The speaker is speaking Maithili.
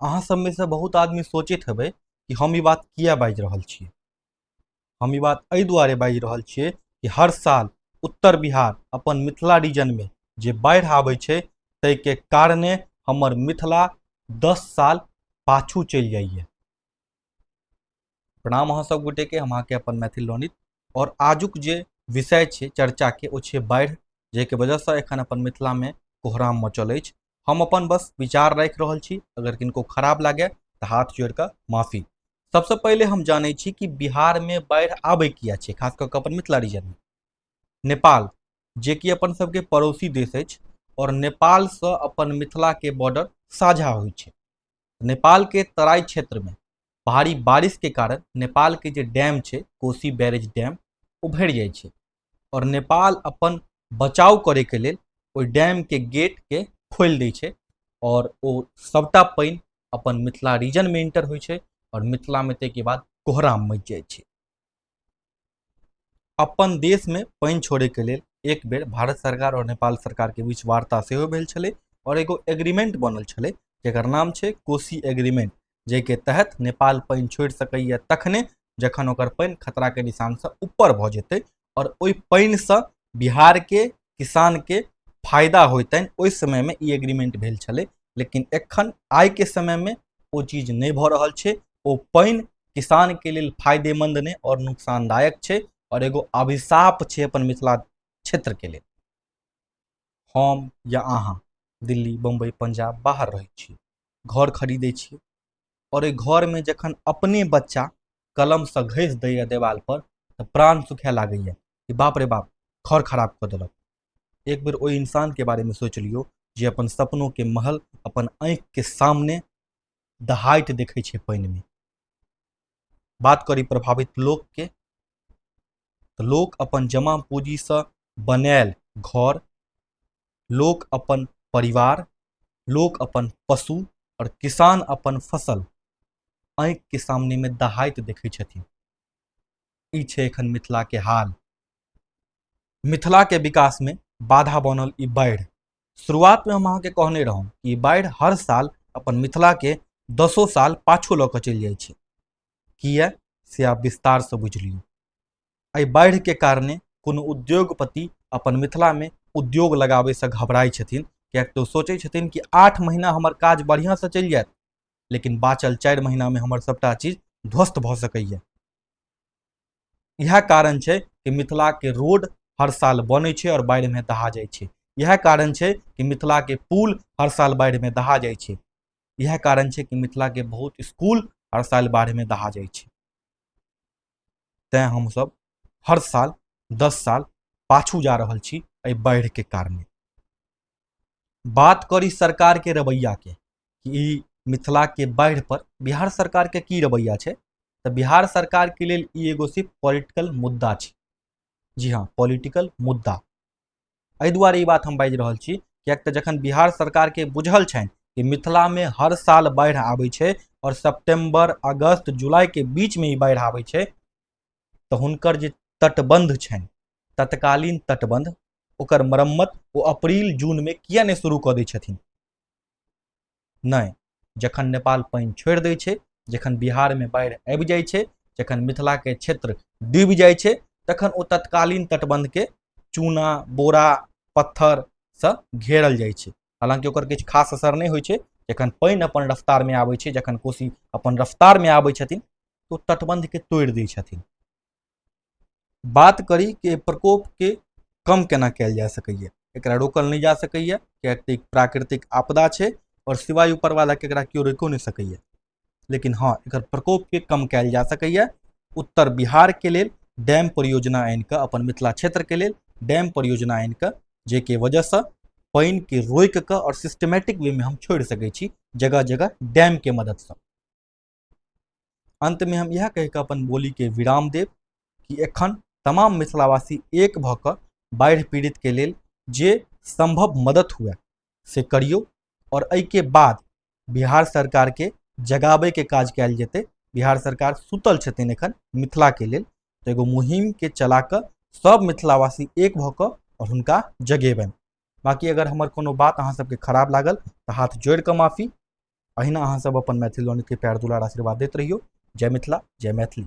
अहाँ सबमे से बहुत आदमी सोचैत हेबै कि हम ई बात किया बाजि रहल छियै हम ई बात एहि दुआरे बाजि रहल छियै कि हर साल उत्तर बिहार अपन मिथिला रीजनमे जे बाढ़ि आबै छै ताहिके कारणे हमर मिथिला दस साल पाछू चलि जाइए प्रणाम अहाँ सब गोटे के हम अहाँके अपन मैथिल लोनित और आजुक जे विषय छै चर्चा के ओ छै बाढ़ि जाहिके वजहसँ एखन अपन मिथिलामे कोहराम मचल अछि हम अपन बस विचार राखि रहल छी अगर किनको खराब लागे तऽ हाथ जोड़ि कऽ माफी सबसँ पहिले हम जानै छी कि बिहारमे बाढ़ि आबै किया छै खास कऽ कऽ अपन मिथिला रीजनमे नेपाल जे कि अपन सबके पड़ोसी देश अछि और नेपालसँ अपन मिथिलाके बॉर्डर साझा होइ छै नेपालके तराई क्षेत्रमे भारी बारिशके कारण नेपालके जे डैम छै कोसी बैरेज डैम ओ भरि जाइ छै आओर नेपाल अपन बचाव करैके लेल ओहि डैमके गेटके खोलि दै छै आओर ओ सभटा पानि अपन मिथिला रीजनमे इंटर होइ छै आओर मिथिलामे ताहिके बाद कोहराम मचि जाइ छै अपन देश में पानि छोड़े के लिए एक बेर भारत सरकार और नेपाल सरकार के बीच वार्ता से भेल छे और एगो एग्रीमेंट बनल छे जर नाम है कोसी एग्रीमेंट जे के तहत नेपाल पानि छोड़ सकैए तखने जखन ओकर पानि खतराके निशानसँ ऊपर भऽ जेतै आओर ओहि पानिसँ बिहारके किसानके फायदा होइतनि ओहि समयमे ई एग्रीमेंट भेल छलै लेकिन एखन आइके समयमे ओ चीज नहि भऽ रहल छै ओ पानि किसानके लेल फायदेमंद नहि आओर नुकसानदायक छै आओर एगो अभिशाप छै अपन मिथिला क्षेत्रके लेल हम या अहाँ दिल्ली बम्बई पंजाब बाहर रहै छी घर खरीदै छी आओर एहि घरमे जखन अपने बच्चा कलमसँ घसि दैए देवालपर तऽ प्राण सुखए लागैए कि बाप रे बाप घर खराब कऽ देलक एक बेर ओहि इंसानके बारेमे सोचि लियौ जे अपन सपनोके महल अपन आँखिके सामने दहाइत देखै छै पानिमे बात करी प्रभावित लोकके तऽ लोक अपन जमा पूँजीसँ बनायल घर लोक अपन परिवार लोक अपन पशु आओर किसान अपन फसल आँखिके सामनेमे दहाइत देखै छथिन ई छै एखन मिथिलाके हाल मिथिलाके विकासमे बाधा बनल ई बाढ़ि शुरुआतमे हम अहाँके कहने रहौं कि बाढ़ि हर साल अपन मिथिलाके दसो साल पाछू लऽ कऽ चलि जाइ छै किए से आब विस्तारसँ बुझि लियौ एहि बाढ़िके कारणे कोनो उद्योगपति अपन मिथिलामे उद्योग लगाबैसँ घबराइ छथिन किएक तऽ ओ सोचै छथिन कि आठ महीना हमर काज बढ़िआँसँ चलि जायत लेकिन बाँचल चारि महीनामे हमर सभटा चीज ध्वस्त भऽ सकैए इएह कारण छै कि मिथिलाके रोड हर साल बनै छै आओर बाढ़िमे दहा जाइ छै इएह कारण छै कि मिथिलाके पुल हर साल बाढ़िमे दहा जाइ छै इएह कारण छै कि मिथिलाके बहुत स्कूल हर साल बाढ़िमे दहा जाइ छै तैँ हमसभ हर साल दस साल पाछू जा रहल छी एहि बाढ़िके कारणे बात करी सरकार के रवैया के कि ई मिथिला के बाढ़ि पर बिहार सरकार के की रवैया छै तऽ बिहार सरकार के लेल ई एगो सिर्फ पॉलिटिकल मुद्दा छै जी हाँ पॉलिटिकल मुद्दा एहि दुआरे ई बात हम बाजि रहल छी किएक तऽ जखन बिहार सरकार के बुझल छनि कि मिथिला में हर साल बाढ़ि आबै छै और सितंबर अगस्त जुलाई के बीच में ई बाढ़ि आबै छै तऽ हुनकर जे तटबंध छनि तत्कालीन तटबंध ओकर मरम्मत ओ अप्रैल जूनमे किया नहि शुरू कऽ दै छथिन नहि जखन नेपाल पानि छोड़ि दै छै जखन बिहारमे बाढ़ि आबि जाइ छै जखन मिथिलाके क्षेत्र डूबि जाइ छै तखन ओ तत्कालीन तटबन्धके चूना बोरा पत्थरसँ घेरल जाइ छै हालाँकि ओकर किछु खास असर नहि होइ छै जखन पानि अपन रफ्तारमे आबै छै जखन कोसी अपन रफ्तारमे आबै छथिन तऽ ओ तटबन्धके तोड़ि दै छथिन बात करी कि एहि प्रकोपके कम केना कयल जा सकैए एकरा रोकल नहि जा सकैए किएक तऽ ई प्राकृतिक आपदा छै आओर सिवाय ऊपरवालाके एकरा केओ रोकिओ नहि सकैए लेकिन हँ एकर प्रकोपके कम कयल जा सकैए उत्तर बिहारके लेल डैम परियोजना आनि कऽ अपन मिथिला क्षेत्रके लेल डैम परियोजना आनि कऽ जाहिके वजहसँ पानिके रोकि कऽ आओर सिस्टमेटिक वेमे हम छोड़ि सकै छी जगह जगह डैमके मददसँ अंत में हम यह कह के अपन बोली के विराम देव कि एखन तमाम मिथिलावासी एक भऽ कऽ बाढ़ि पीड़ित के लेल जे संभव मदद हुए से करियौ और एहि के बाद बिहार सरकार के जगाबे के काज कयल जेतै बिहार सरकार सुतल छथिन एखन मिथिला के लेल तऽ एगो मुहिम के चला कऽ सब मिथिलावासी एक भऽ कऽ और हुनका जगेबनि बाकी अगर हमर कोनो बात अहाँ सबके खराब लागल तऽ हाथ जोड़ि कऽ माफी अहिना अहाँ सब अपन मैथिली लोन के प्यार दुलार आशीर्वाद दैत रहियो जय मिथिला जय मैथिली